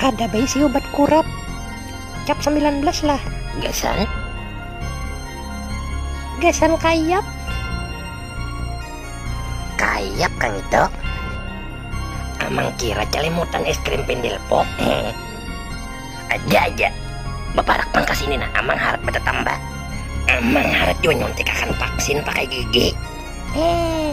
Kada baisi obat kurap. Cap sambilan belas lah. Gasan. Gasan kayap. Kayap kang itu. Amang kira calimutan es krim pendil pop. Aja aja. Baparak pang kasini nah. Amang harat batatambah. Amang harat jua nyuntikakan vaksin pakai gigi. Eh.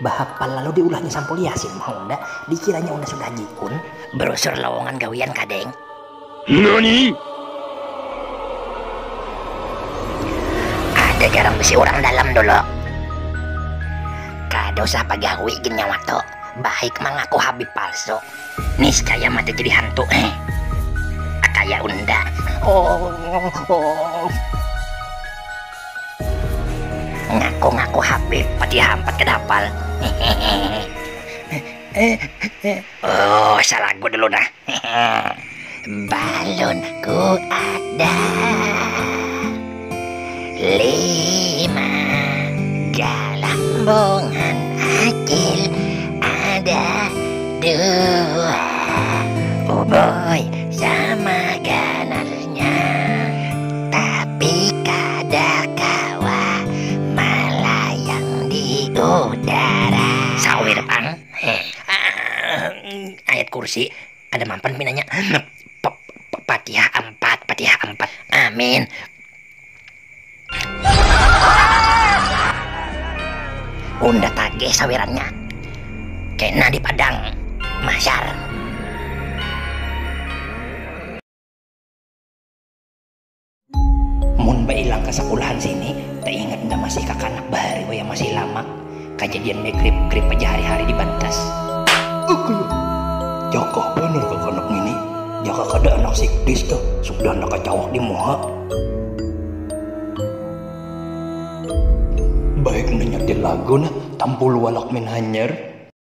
Bahapal lalu diulahnya sampul Yasin mau unda, dikiranya unda sudah jikun. Brosur lowongan gawian kah deng? Nani? Ada jarang bisi urang dalam dulu. Kada usah bagawi gin nyawa tu, baik mangaku habib palsu. Niscaya mati jadi hantu heeh. Kaya unda. Oohh. Ngaku ngaku habib pati hampat kada hapal hehehe usah lagu dulu nah hehehe balun ku ada lima galambungan acil ada dua uboy sama ganar. tapi kada kawa malayang di udara sawir pang ayat kursi kada mampan pinanya fatihah ampat fatihah ampat amin. Unda tagih sawirannya kena di padang mahsyar. Mun bailang ka sakulahan sini, taingat nda masih kakanak bahari wayah masih lamak, kajadian megrip-grip aja hari-hari di bantas. Ugh. Jaka banar kakanak ngini, jaka kada anak sikdis tu, sudah nda kacawak di muha. Baik nda nyetir lagu nah, tampulu walakmin hanyar.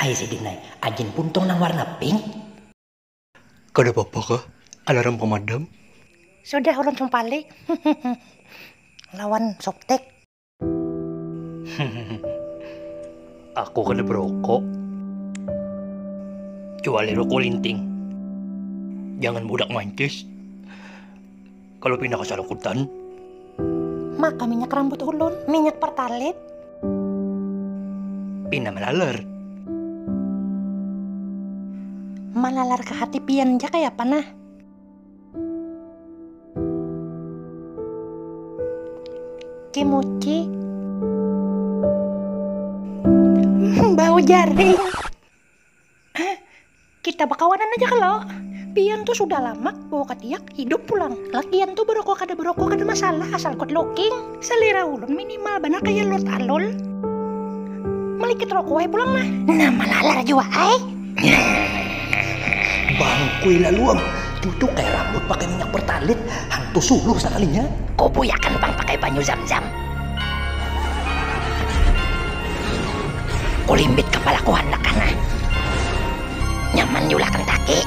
Ai sidin ai, ajin puntung nang warna pink. Kada papa kah alarm pamadam? Sudah ulun sumpali lawan softtek. Hehehe aku kada berokok kecuali rokok linting jangan budak mancis. Kalo pina kasalakutan. Maka minyak rambut ulun, minyak pertalit. Pina malalar. Malalar ka hati pian ja kaya apa nah. Kimuchi. Bau jaring. Hah? Kita bakawanan aja kalo? Pian tuh sudah lamak bawa katiak, hidup pulang. Lakian tuh berokok kada berokok kada masalah asal good looking. Selera ulun minimal banar kaya Lord Alol. Malikit rokok ai pulang nah. Nah malalar jua ai. Bangkui laluang, tu tuh kaya rambut pakai minyak bertalit, hantu suluh sakalinya. Kubuyakan pang pakai banyu zam-zam. kulimbit kapalaku handak kana nyaman diulah kentaki.